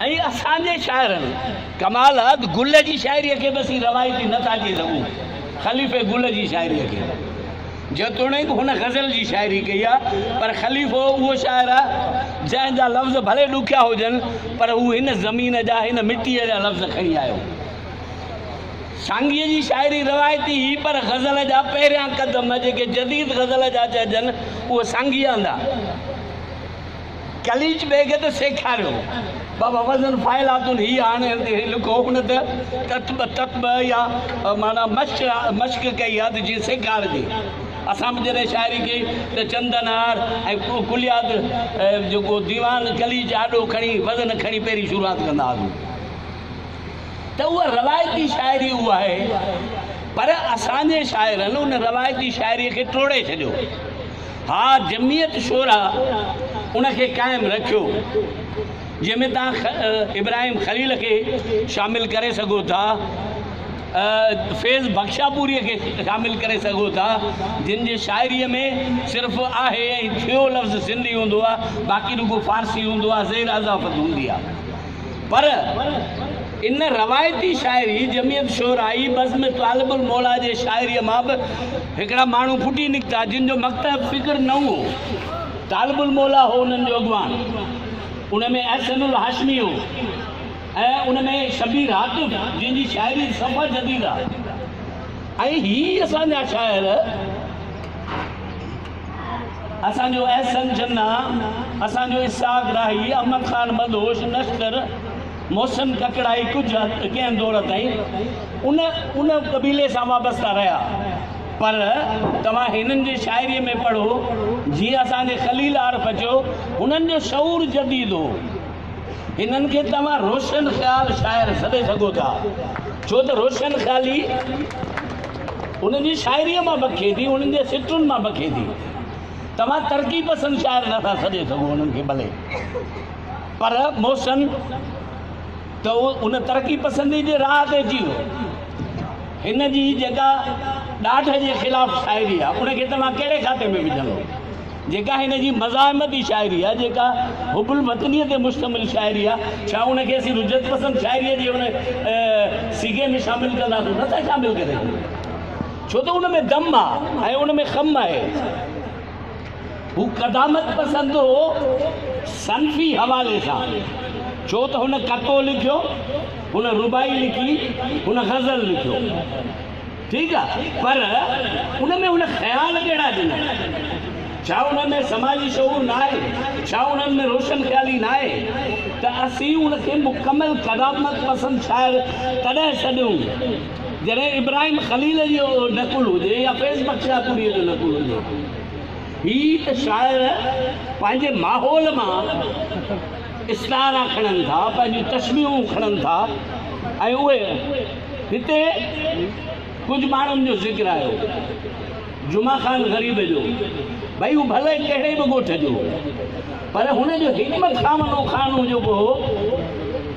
۽ اسان جي شاعرن ڪمال عد گل جي شاعريء کي به اسين روايتي نه ٿا چئي سگهون. خليفي گل جي شاعريء کي جيتوڻيڪ هن غزل جي شاعري ڪئي آهي پر خليفو اهو شاعر آهي جنهن جا لفظ ڀلي ڏکيا هجن پر هو هن زمين جا هن مٽيء جا لفظ کڻي آيو. سانگيء جي شاعري روايتي هئي پر غزل جا پهريان قدم جيڪي جديد غزل جا چئجن اهي سانگيء هندا. قليچ بيگ ته سيکاريو. بابا وزن فاعلاتن هي هاڻي هي لکو ان ته تطبع تطبع يا معنيٰ مشق مشق ڪئي آ ته جيئن سيکارجي. اسان به جڏهن شاعري ڪئي ته چندن هار ۽ ڪليات جيڪو ديوان قليچ آڏو کڻي وزن کڻي پهرين شروعات ڪندا هئاسون ته اها روايتي شاعري اها آهي پر اسان جي شاعرن ان روايتي شاعري کي ٽوڙي ڇڏيو. ها جمعيت شورا ان کي قائم رکيو جنهن ۾ توهان ابراهيم خليل کي شامل ڪري سگهو ٿا فيض بخشاپوري کي شامل ڪري سگهو ٿا جن جي شاعري ۾ صرف آهي ۽ ٿيو لفظ سنڌي هوندو آهي باقي رڳو فارسي هوندو آهي زير اضافت هوندي آهي پر ان روايتي شاعري جميعت شعرائي بزم طالب الموليٰ جي شاعريء مان به هڪڙا ماڻهو ڦٽي نڪتا، جن جو مڪتب فڪر نئون هو. طالب الموليٰ هو انهن جو اڳواڻ. ان ۾ احسن الهاشمي هو ۽ ان ۾ شبير هاتف، جنهن جي شاعري صفا جديد آهي. ۽ هي اسان جا شاعر. اسان جو احسن جناح، اسان جو اسحاق راهي، احمد خان بدوش، نشتر، محسن ڪڪڙائي ڪجهه حد ڪنهن دور تائين ان ان قبيلي سان وابسته رهيا پر توهان هنن جي شاعريء ۾ پڙهو جيئن اسان جي خليل عارف چيو هنن جو شعور جديد هو. هنن کي توهان روشن خيال شاعر سڏي سگهو ٿا، ڇو ته روشن خيالي انهن جي شاعريء مان بکي ٿي، انهن جي سٽن مان بکي ٿي. توهان ترقي پسند شاعر نٿا سڏي سگهو انهن کي ڀلي، پر محسن ته ان ترقي پسندي جي راهه تي اچي ويو. هن جي جيڪا ڏاڍ جي خلاف شاعري آهي، ان کي توهان ڪهڙي کاتي ۾ وجهندو؟ جيڪا هن جي مزاحمتي شاعري آهي، جيڪا حب الوطنيء تي مشتمل شاعري آهي، ڇا ان کي اسين رجعت پسند شاعريء جي ان صيغي ۾ شامل ڪنداسون؟ نه ٿا شامل ڪري سگهون، ڇو ته ان ۾ دم آهي ۽ ان ۾ خم آهي. هو قدامت پسند هو صنفي حوالي سان، ڇو ته هن قطعو لکيو، هن رباعي لکي، هن غزل لکيو. ٺيڪ آ پر ان ۾ هن خيال ڪهڙا ڏنا؟ ڇا انهن ۾ سماجي شعور ناهي؟ ڇا انهن ۾ روشن خيالي ناهي ته اسين ان کي مڪمل قدامت پسند شاعر تڏهن سڏيون جڏهن ابراهيم خليل جو نقل هجي يا فيض بخش شاهپوريء جو نقل هجي؟ هي ته شاعر پنهنجي ماحول مان استعارا کڻن ٿا، پنهنجون تشبيهون کڻن ٿا ۽ اهي هتي ڪجهه ماڻهن جو ذڪر آيو جمعه خان غريب جو ڀئي هو ڀلي ڪهڙي به ڳوٺ جو هو پر هن جو هڪ ٻه کامنو خانو جيڪو هو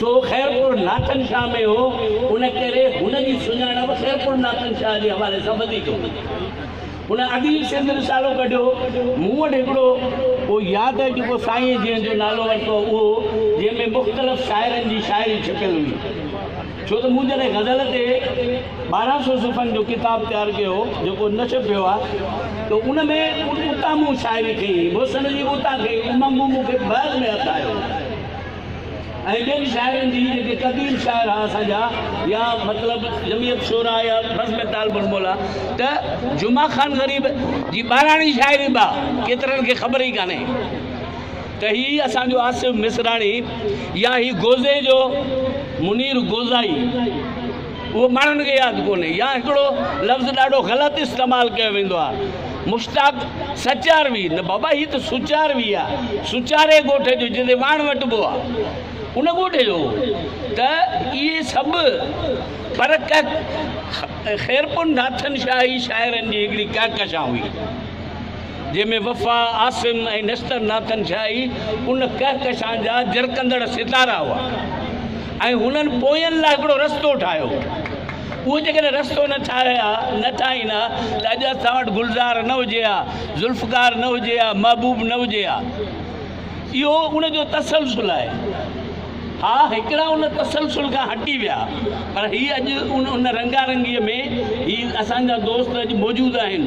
سو خيرپور ناٿن شاهه ۾ هو ان ڪري هن جي سڃاڻپ خيرپور ناٿن شاهه جي حوالي سان وڌيڪ هئي هن اديب سنڌ رسالو ڪڍيو مون وٽ هڪڙو اهو ياد آهي جيڪو سائين جنهن جو نالو ورتو اهو جنهن ۾ مختلف شاعرن جي شاعري ڇپيل هئي ڇو ته مون جڏهن غزل تي ٻارهن سؤ صفحن جو ڪتاب تيار ڪيو هو، جيڪو نشر ٿيو آهي، ته ان ۾ اتان مون شاعري ڪئي هئي. محسن جي به اتان ڪئي هئي. ان مون مون کي بحر ۾ هٿ آيو هو ۽ ٻين شاعرن جي، جيڪي قديم شاعر ها اسان جا، يا مطلب جمعيت شعراء يا بزم طالب الموليٰ، ته جمعه خان غريب جي ٻاراڻي شاعري به ها، ڪيترن کي خبر ئي ڪانهي. ته هي اسان جو آصف مصراڻي يا هي گوزي جو منير گوزائي اهو ماڻهن کي ياد ڪونهي يا هڪڙو لفظ ڏاڍو غلط استعمال ڪيو ويندو آهي مشتاق سچاروي نه بابا هي ته سچاروي آهي سچاري ڳوٺ جو جتي واڻ وٽبو آهي ان ڳوٺ جو ته اهي سڀ پر ڪهڪ خيرپور ناٿن شاهي شاعرن جي هڪڙي ڪهڪشان هئي. جنهن ۾ وفا، عاصم ۽ نشتر ناٿن شاهه ئي ان ڪهڪشان جا جرڪندڙ ستارا هئا ۽ هنن پوين لاء هڪڙو رستو ٺاهيو هو. اهو جيڪڏهن رستو نه ٺاهي ها، نه ٺاهين ها ته اڄ اسان وٽ گلزار نه هجي ها، ذوالفقار نه هجي ها، محبوب نه هجي ها. اهو ان جو تسلسل آهي. ها هڪڙا ان تسلسل کان هٽي ويا پر هي اڄ ان ان رنگا رنگيء ۾ هي اسان جا دوست اڄ موجود آهن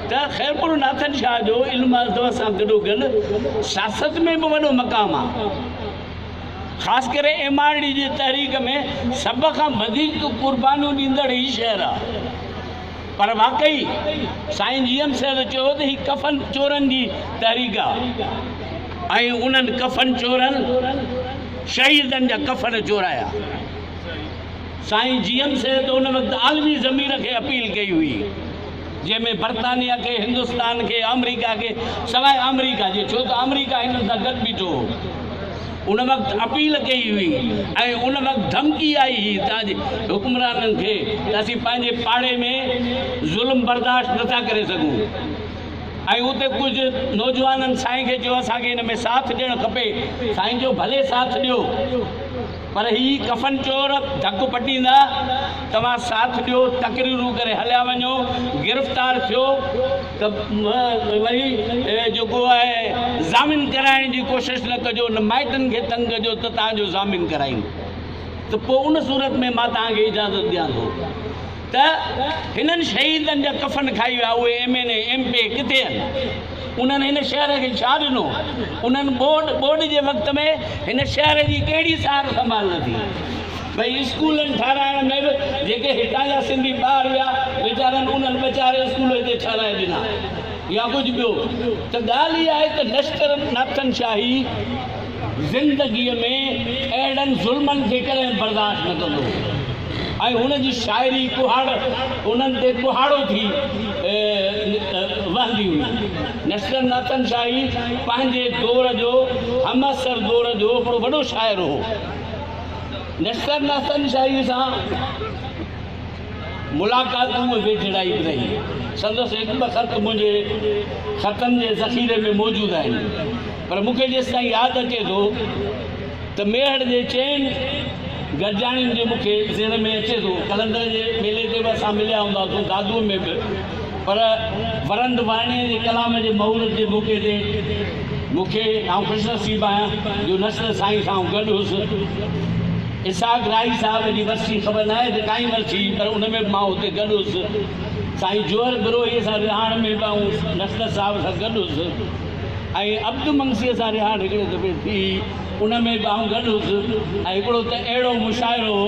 ته خيرپور ناٿن شاهه جو علم ادب سان گڏوگڏ سياست ۾ به وڏو مقام آ خاص ڪري ايم آر ڊي جي تحريڪ ۾ سڀ کان وڌيڪ قربانيون ڏيندڙ هي شهر آ. پر واقعي سائين جي ايم صيد چيو ته هي ڪفن چورن جي تحريڪ آ ۽ انهن ڪفن چورن شهيدن جا ڪفن چورايا. سائين جي ايم صيد ان وقت عالمي ضمير کي اپيل ڪئي هئي جنهن ۾ برطانيا کي هندستان کي آمريڪا کي سواء آمريڪا جي ڇو ته آمريڪا هنن سان گڏ بيٺو هو. ان وقت اپيل ڪئي هئي ۽ ان وقت ڌمڪي آئي هئي ته اڄ حڪمرانن کي ته اسين پنهنجي پاڙي ۾ ظلم برداشت نه ٿا ڪري سگهون ۽ اتي ڪجهه نوجوانن سائين کي چيو اسان کي ان ۾ ساٿ ڏيڻ کپي سائين چيو ڀلي ساٿ ڏيو پر هي ڪفن چور ڌڪ پٽيندا توهان ساٿ ڏيو تقريرون ڪري هليا وڃو گرفتار ٿيو ته وري جيڪو آهي ضامن ڪرائڻ جي ڪوشش نه ڪجو نه مائٽن کي تنگ ڪجو ته توهان جو ضامن ڪرائين ته پوء ان صورت ۾ مان توهان کي اجازت ڏيان ٿو ته هنن شهيدن جا ڪفن کائي ويا اهي M N A M P ڪٿي آهن انهن هن شهر کي ڇا ڏنو انهن ٻوڏ ٻوڏ جي وقت ۾ هن شهر جي ڪهڙي سار سنڀال نه ٿي ٻئي اسڪولن ٺهرائڻ ۾ به جيڪي هتان جا سنڌي ٻاهر ويا ويچارن انهن ٻه چار اسڪول هتي ٺهرائي ڏنا يا ڪجهه ٻيو ته ڳالهه اها آهي ته لشڪر ناٿن شاهي زندگيء ۾ اهڙن ظلمن کي ڪڏهن برداشت نه ڪندو هو ۽ هن جي شاعري ڪهاڙ انهن تي ڪهاڙو ٿي وهندي هئي لشڪر ناٿن شاهي پنهنجي دور جو همعصر دور جو هڪڙو وڏو شاعر هو نشتر ناتن شاهيء سان ملاقاتون ۽ ويجهڙائي به رهي. سندس هڪ ٻه خط منهنجي خطن جي ذخيري ۾ موجود آهن، پر مون کي جيستائين ياد اچي ٿو ته ميهڙ جي چئن گڏجاڻين جي مون کي ذهن ۾ اچي ٿو قلندر جي ميلي تي به اسان مليا هوندا هئاسون، دادوء ۾ به. پر ورند وانيء جي ڪلام جي مورت جي موقعي تي مون کي، آئون خوش نصيب آهيان جو نصر سائين سان آئون گڏ هوس. اسحاق راهي صاحب جي ورسي خبر ناهي ته ڪائين ورسي پر ان ۾ به مان اتي گڏ هوس. سائين جوهر بروهيء سان رهاڻ ۾ به آئون نصر صاحب سان گڏ هوس ۽ عبد منگسيء سان رهاڻ هڪڙي دفعي ٿي ان ۾ به آئون گڏ هوس ۽ هڪڙو ته اهڙو مشاعرو هو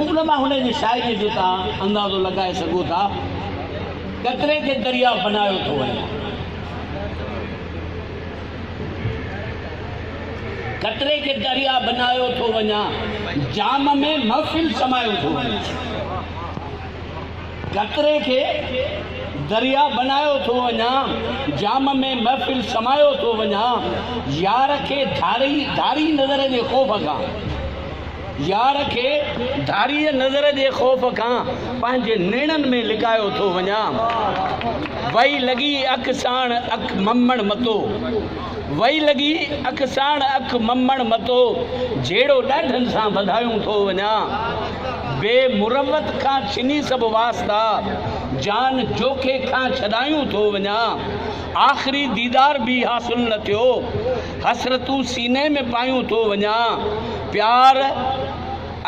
ان مان هن جي شاعريء جو توهان اندازو لڳائي سگهو ٿا، قطري کي درياء بنايو ٿو وڃي. قطري کي درياء بنايو ٿو وڃان، جام ۾ محفل سمايو ٿو وڃان. گهتري کي دريا بنايو ٿو وڃان، جام ۾ محفل سمايو ٿو وڃان، يار کي ڌاري ڌاري نظر جي خوف کان، يار کي ڌاريء نظر جي خوف کان، پنهنجي نيڻن ۾ لڪايو ٿو وڃان، وئي لڳي اک ساڻ اک ممڻ متو. وئي لڳي اک ساڻ اک ممڻ متو جهيڙو ڏاڍن سان وڌايون ٿو وڃان بي مروت کان ڇني سڀ واسطا جان جوکي کان ڇڏايون ٿو وڃان آخري ديدار به حاصل نه ٿيو حسرتون سيني ۾ پايون ٿو وڃان پيار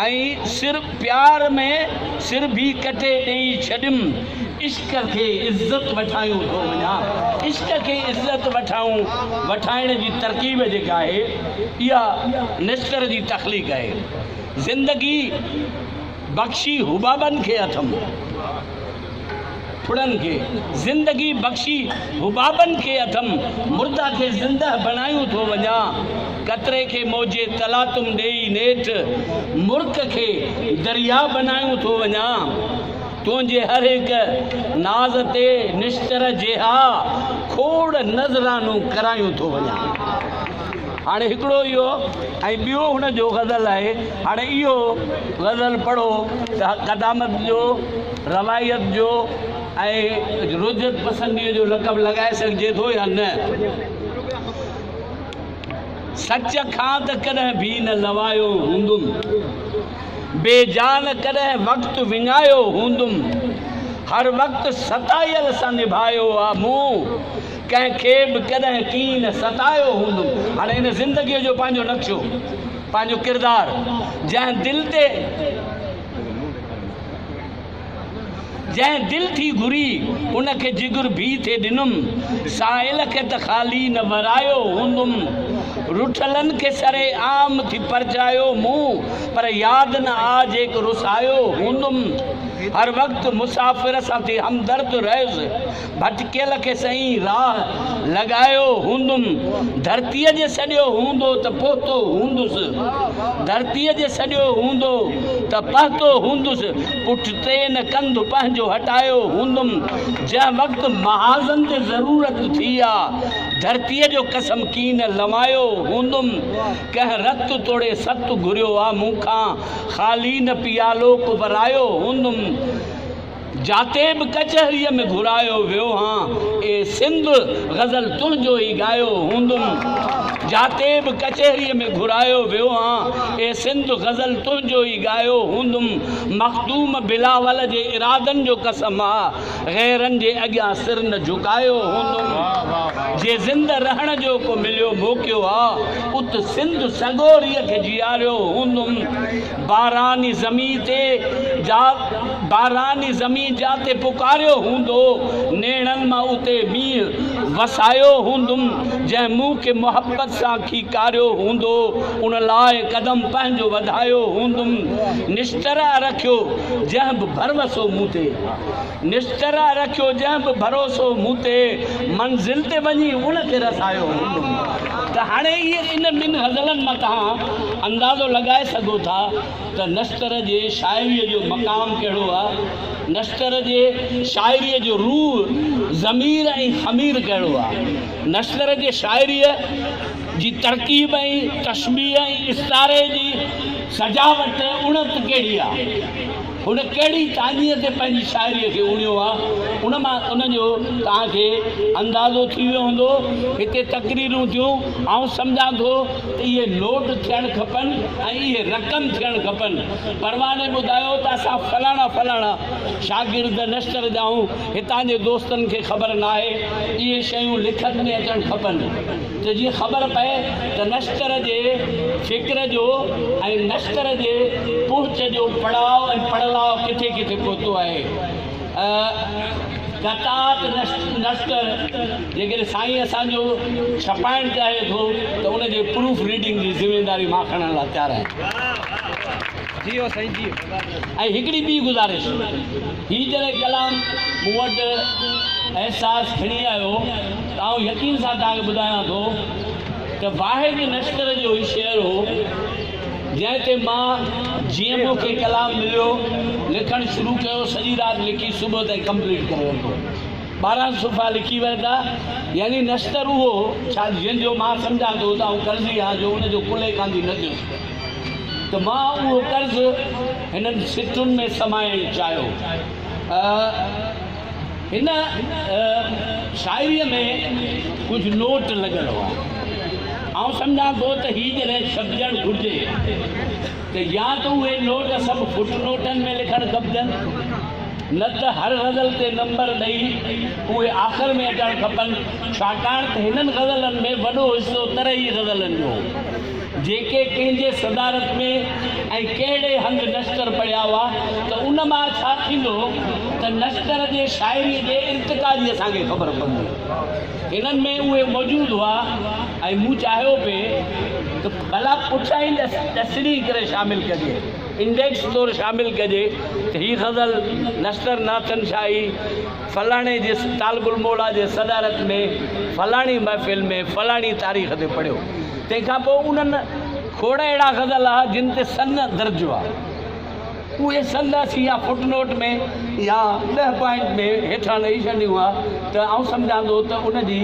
۽ سر پيار ۾ سر ڀي ڪٽي ڏيئي ڇڏيم عشق کي عزت وٺايون ٿو وڃان عشق کي عزت وٺائون وٺائڻ جي ترڪيب جيڪا آهي اها نشتر جي تخليق آهي زندگي بخشي حبابن کي اٿم ڦڙن کي زندگي بخشي حبابن کي اٿم مرده کي زنده بڻايون ٿو وڃان قطري کي موجي تلاطم ڏيئي نيٺ مرڪ کي دريا بڻايون ٿو وڃان تنهنجي هر هڪ ناز تي نشتر جيها کوڙ نذرانو ڪرايون ٿو وڃان هاڻي هڪڙو اهو ۽ ٻيو هن جو غزل آهي هاڻي اهو غزل پڙهو ته قدامت جو روائيت جو ۽ رجعت پسنديء جو لقب لڳائي سگهجي ٿو يا نه؟ سچ کان ته ڪڏهن ڀي نه لوايو هوندم، بي جا نه ڪڏهن وقت وڃايو هوندم، هر وقت ستايل سان نڀايو آ مون، ڪنهن کي به ڪڏهن ڪين ستايو هوندم. هاڻي هن زندگيء جو پنهنجو نقشو، پنهنجو ڪردار، جنهن دل تي. جنهن دل ٿي گهري، ان کي جگر ڀي ٿي ڏنم، سائل کي ته خالي نه ورايو هوندم، رٺلن کي سر عام ٿي پرچايو مون، پر ياد نه آ جيڪ رسايو هوندم، هر وقت مسافر سان ٿي همدرد رهيس، ڀٽڪيل کي سائين راهه لڳايو هوندم ڌرتيء جي سڏيو هوندو ته پهتو هوندس ڌرتيء جي سڏيو هوندو ته پهتو هوندس پٺتي نه ڪنڌ پنهنجو هٽايو هوندم جنهن وقت محاذن تي ضرورت ٿي آ ڌرتيء جو قسم ڪين لوايو هوندم ڪنهن رت توڙي ست گهريو آ مون کان خالي نه پيالو ڪو ورايو هوندم جاتي به ڪچهريء ۾ گهرايو ويو هان، اي سنڌ! غزل تنهنجو ئي ڳايو هوندم. جاتي به ڪچهريء ۾ گهرايو ويو هان، اي سنڌ! غزل تنهنجو ئي ڳايو هوندم. مخدوم بلاول جي ارادن جو قسم آ، غيرن جي اڳيان سر نه جهڪايو هوندم. جي زندهه رهڻ جو ڪو مليو موقعو آ، ات سنڌ سڳوريء کي جياريو هوندم. باراني زمين تي جا باراني زمين جاتي پڪاريو هوندو نيڻن مان اتي مينهن وسايو هوندم جنهن مون کي محبت سان کيڪاريو هوندو ان لاء قدم پنهنجو وڌايو هوندم نشتر رکيو جنهن به ڀروسو مون تي نشترا رکيو جنهن به ڀروسو مون تي منزل تي وڃي ان کي رسايو هوندم ته هاڻي ان ٻن غزلن مان توهان اندازو لڳائي سگهو ٿا ته نشتر جي شاعريء جو مقام ڪهڙو آ نشتر جي شاعريء جو روح ضمير ۽ خمير ڪهڙو آ نشتر جي شاعريء جي ترڪيب ۽ تشبيهه ۽ استعاري جي سجاوٽ اڻت ڪهڙي آ. هن ڪهڙي چانديء تي پنهنجي شاعريء کي اڻيو آ، ان مان ان جو توهان کي اندازو ٿي ويو هوندو. هتي تقريرون ٿيون، آئون سمجهان ٿو ته اهي نوٽ ٿيڻ کپن ۽ اهي رقم ٿيڻ کپن. پرواني ٻڌايو ته اسان فلاڻا فلاڻا شاگرد نشتر جا آهيون، هتان جي دوستن کي خبر ناهي، اهي شيون لکت ۾ اچڻ کپن. ته جيئن خبر پئي ته نشتر جي فڪر جو ۽ نشتر جي پهچ جو پڙاء ۽ پڙلاء ڪٿي ڪٿي پهتو آهي. قطعات نشتر جيڪڏهن سائين اسان جو ڇپائڻ چاهي ٿو ته ان جي پروف ريڊنگ جي ذميواري مان کڻڻ لاء تيار آهيان. ۽ هڪڙي ٻي گذارش. هي جڏهن ڪلام مون وٽ احساس کڻي آيو ته آئون يقين سان توهان کي ٻڌايان ٿو ته واحد نشتر جو هي شعر هو جنهن تي مان جيئن مون کي ڪلام مليو لکڻ شروع ڪيو سڄي رات لکي صبح تائين ڪمپليٽ ڪري ورتو ٻارهن صفحا لکي ورتا يعني نشتر اهو هو ڇا جنهن جو مان سمجهان ٿو ته آئون قرضي آهيان جو ان جو ڪلهي ڪانڌي نه ٿيس ته مان اهو قرض هنن سٽن ۾ سمائڻ چاهيو. هن شاعريء ۾ ڪجهه نوٽ لڳل هئا. آئون سمجهان ٿو ته هي جڏهن ڇپجڻ گهرجي ته يا ته اهي نوٽ سڀ فٽ نوٽن ۾ لکڻ کپجن، نه ته هر غزل تي نمبر ڏئي اهي آخر ۾ اچڻ کپن، ڇاڪاڻ ته هنن غزلن ۾ وڏو حصو ترهي غزلن جو هو. جيڪي ڪنهن جي صدارت ۾ ۽ ڪهڙي هنڌ نشتر پڙهيا هئا ته ان مان ڇا ٿيندو ته نشتر جي شاعريء جي ارتقا جي اسان کي خبر پوندي. هنن ۾ اهي موجود هئا ۽ مون چاهيو پئي ته ڀلا پٺيائين ڏس ڏسڻي ڪري شامل ڪجي، انڊيڪس طور شامل ڪجي ته هي غزل نشتر ناٿن شاهي، فلاڻي جي طالب الموليٰ جي صدارت ۾ فلاڻي محفل ۾ فلاڻي تاريخ تي پڙهيو. تنهن کان پوء انهن کوڙ اهڙا غزل آ جن تي سن درج هئا. اهي سن اسين يا فٽ نوٽ ۾ يا ڏهه پوائنٽ ۾ هيٺان ڏئي ڇڏيون ها ته آئون سمجهان ٿو ته ان جي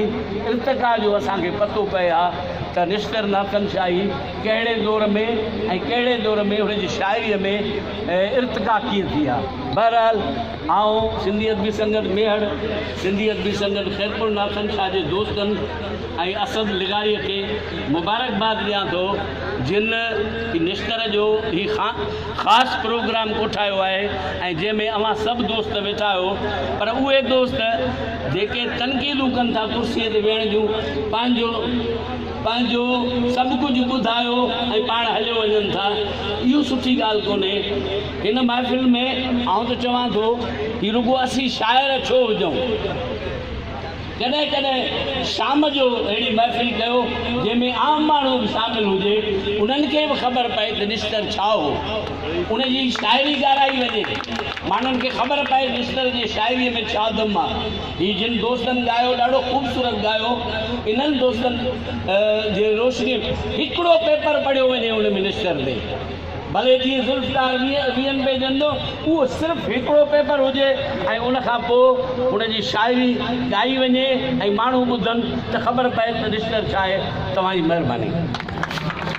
ارتقا جو اسان کي پتو پئي ها ته نشتر ناطقن شاهي ڪهڙي دور ۾ ۽ ڪهڙي دور ۾ هن جي شاعريء ۾ ارتقا ڪيئن ٿي ها. بهرحال! آئون سنڌي ادبي سنگت ميهڙ، سنڌي ادبي سنگت خيرپور ناٿن شاهه جي دوستن ۽ اسد لغاريء کي مبارڪباد ڏيان ٿو جن نشتر جو هي خاص پروگرام ڪوٺايو آهي ۽ جنهن ۾ اوهان سڀ دوست ويٺا آهيو پر اهي دوست جيڪي تنقيدون ڪن ٿا ڪرسيء تي ويهڻ جون پنهنجو پنهنجو سڀ ڪجهه ٻڌايو ۽ پاڻ هليو وڃن ٿا اهو سٺي ڳالهه ڪونهي. ان محفل ۾ آئون ته چوان ٿو هي رڳو اسين شاعر ڇو هجون ڪڏهن ڪڏهن شام جو اهڙي محفل ڪيو جنهن ۾ عام ماڻهو به شامل هجي انهن کي به خبر پئي ته نشتر ڇا هو ان جي شاعري ڳارائي وڃي ماڻهن کي خبر پئي نشتر جي شاعري ۾ ڇا دم آ هي جن دوستن ڳايو ڏاڍو خوبصورت ڳايو انهن دوستن جي روشني هڪڙو پيپر پڙهيو وڃي ان ۾ نشتر تي ڀلي جيئن ذوالفقار ويهه ويهن پيجن جو اهو صرف هڪڙو پيپر هجي ۽ ان کان پوء هن جي شاعري ڳائي وڃي ۽ ماڻهو ٻڌن ته خبر پئي ته ڊڪشنر ڇا آهي. توهان جي مهرباني.